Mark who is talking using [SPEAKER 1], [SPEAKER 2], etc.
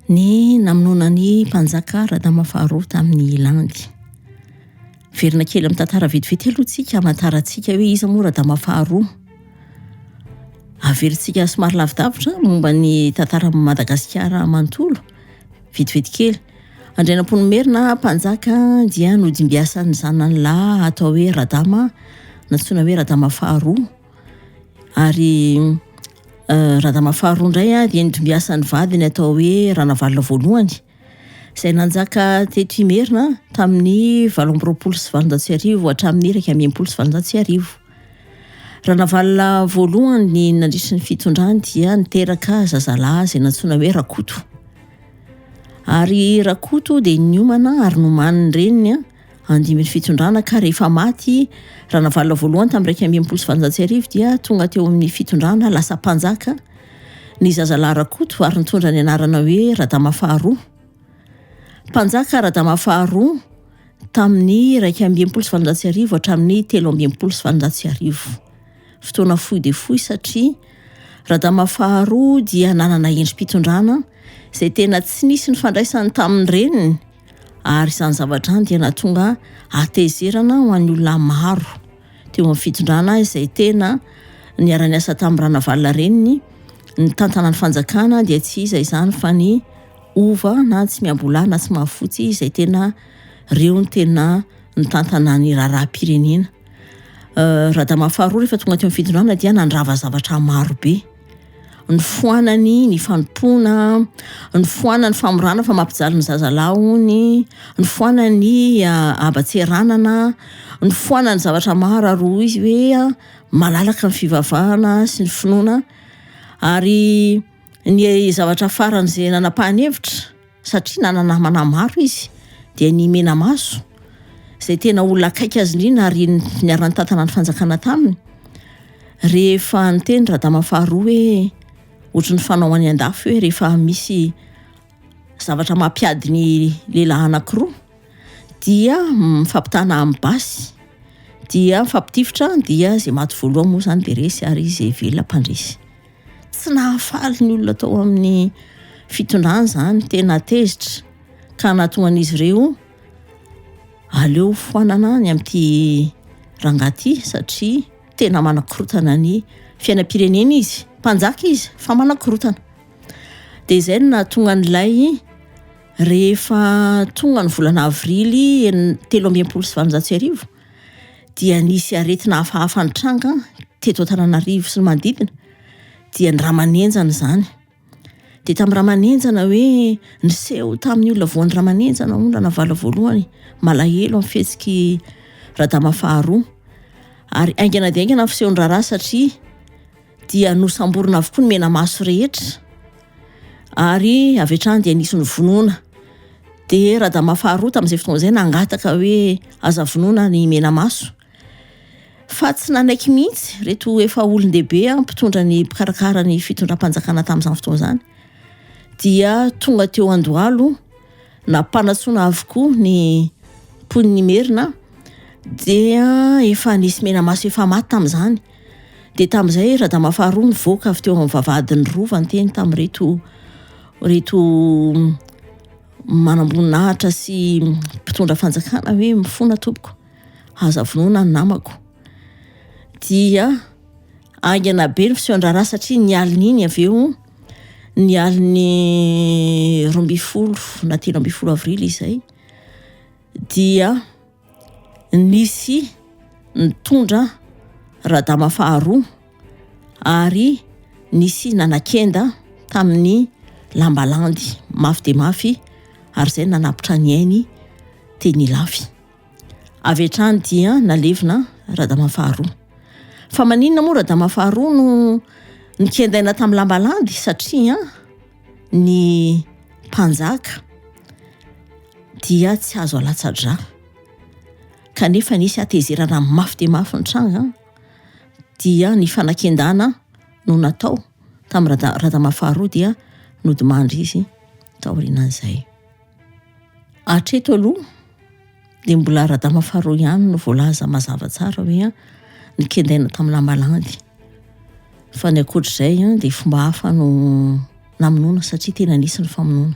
[SPEAKER 1] Ny namonoana an'i Mpanjaka Radama faharoa tamin'i Landy. Miverina kely amin'ny tantara vetivety aloha tsika hamantarantsika hoe iza moa Radama faharoa. Avelantsika somary lavidavitra momba ny tantaran'i Madagasikara manontolo, vetivety kely. Andrianampoinimerina, mpanjaka, dia nodimbiasan'ny zanany lahy atao hoe Radama, nantsoina hoe Radama faharoa. Ary eh, Radama faharoa indray ah, dia nodimbiasan'ny vadiny atao hoe Ranavalona voalohany, izay nanjaka teto Imerina tamin'ny valo amby roapolo sy valonjato sy arivo hatramin'ny iraika ambin'ny folo sy valonjato sy arivo. Ranavalona voalohany ny nandritry ny fitondrany dia niteraka zazalahy izay nantsoina hoe Rakoto. Ary Rakoto dia niomana ary noman'ny reniny andimin'ny fitondrana ka rehefa maty Ranavalona voalohany tamin'ny iraika ambin'ny folo sy valonjato sy arivo dia tonga teo amin'ny fitondrana lasa mpanjaka ny zazalahy Rakoto ary nitondra ny anarana hoe Radama faharoa. Mpanjaka Radama faharoa tamin'ny iraika amby enimpolo sy valonjato sy arivo hatramin'ny telo amby enimpolo sy valonjato sy arivo. Fotoana fohy dia fohy satria Radama faharoa dia nanana endri-pitondrana izay tena tsy nisy ny fandraisany tamin'ny reniny ary izany zavatra any dia nahatonga hatezerana ho an'ny olona maro teo amin'ny fitondrana izay tena niara-niasa tamin'ny Ranavalona reniny ny tantana ny fanjakana dia tsy iza izany fa ny Hova na tsy miambola na tsy mahafotsy izay tena reo ny tena nitantana ny raharaham-pirenena. Radama faharoa rehefa tonga teo amin'ny fitondrana dia nandrava zavatra marobe. Nifoanany ny fanompoana, nifoanany ny famorana fa mampijaly ny zazalahy ony, nifoanany habatseranana, nifoanany zavatra maro ary hoy izy hoe malalaka ny fivavahana sy ny finoana ary Ny zavatra farany izay nanapahany hevitra, satria nanana namana maro izy, dia ny Menamaso, izay tena olona akaiky azy indrindra ary niara-nitantana ny fanjakana taminy. Rehefa niteny Radama faharoa hoe ohatry ny fanao any an-dafy hoe rehefa misy zavatra mampiady ny lehilahy anankiroa dia mifampitana amin'ny basy dia mifampitifitra dia izay maty voalohany moa izany dia resy ary izay velona mpandresy. Tsy nahafaly ny olona tao amin'ny fitondrana izany, tena tezitra ka nahatonga an'izy ireo aleo foanana ny amin'ity rangahy ity satria tena manakorotana ny fiainam-pirenena izy. Mpanjaka izy fa manakorotana. Dia izay no nahatonga an'ilay rehefa tonga ny volana avrily telo amby enimpolo sy valonjato sy arivo dia nisy aretina hafahafa nitranga teto Antananarivo sy ny manodidina dia ny ramanenjana izany dia tamin'ny ramanenjana hoe niseho tamin'ny olona voan'ny ramanenjana hono Ranavala voalohany malahelo amin'ny fihetsiky Radama faharoa ary aingana dia aingana fisehon'ny raharaha satria dia nosamborina avokoa ny menamaso rehetra ary avy hatrany dia nisy nyvonoana dia radama faharoa tamin'izay fotoana izay nangataka hoe aza vonoana ny menamaso fa tsy nanaiky mihitsy reto efa olon-dehibe a mpitondra ny mpikarakara ny fitondram-panjakana tamin'izany fotoana izany dia tonga teo andohalo nampanatsoana avokoa ny mponin'ny merina dia efa nisy menamaso efa maty tamin'izany Dia tamin'izay Radama faharoa nivoaka avy teo amin'ny vavahadin'ny rova niteny tamin'ireto reto manamboninahitra sy mpitondra fanjakana hoe mifona tompoko aza vonoina ny namako dia aingana be ny fisehoan-draharaha satria ny alin'iny avy eo ny alin'ny roa ambin'ny folo na telo ambin'ny folo avrily izay dia nisy nitondra radama faharoa ary nisy nanakenda tamin'ny lambalandy mafy dia mafy ary izay nanapitra ny ainy teny Ilafy. Avy hatrany dia nalevina radama faharoa. Fa maninona moa radama faharoa no nikendaina tamin'ny lambalandy satria ny mpanjaka dia tsy azo alatsa-drà kanefa nisy hatezerana mafy dia mafy nitranga dia ny fanakian-dana no natao tamin'ny Rada- Radama faharoa dia nodimandry izy taorianan'izay. Hatreto aloha dia mbola Radama faharoa ihany no voalaza mazava tsara hoe nikendaina tamin'ny lamba landy. Fa ny ankoatr'izay dia fomba hafa no namonoana satria tena nisy ny famonoana.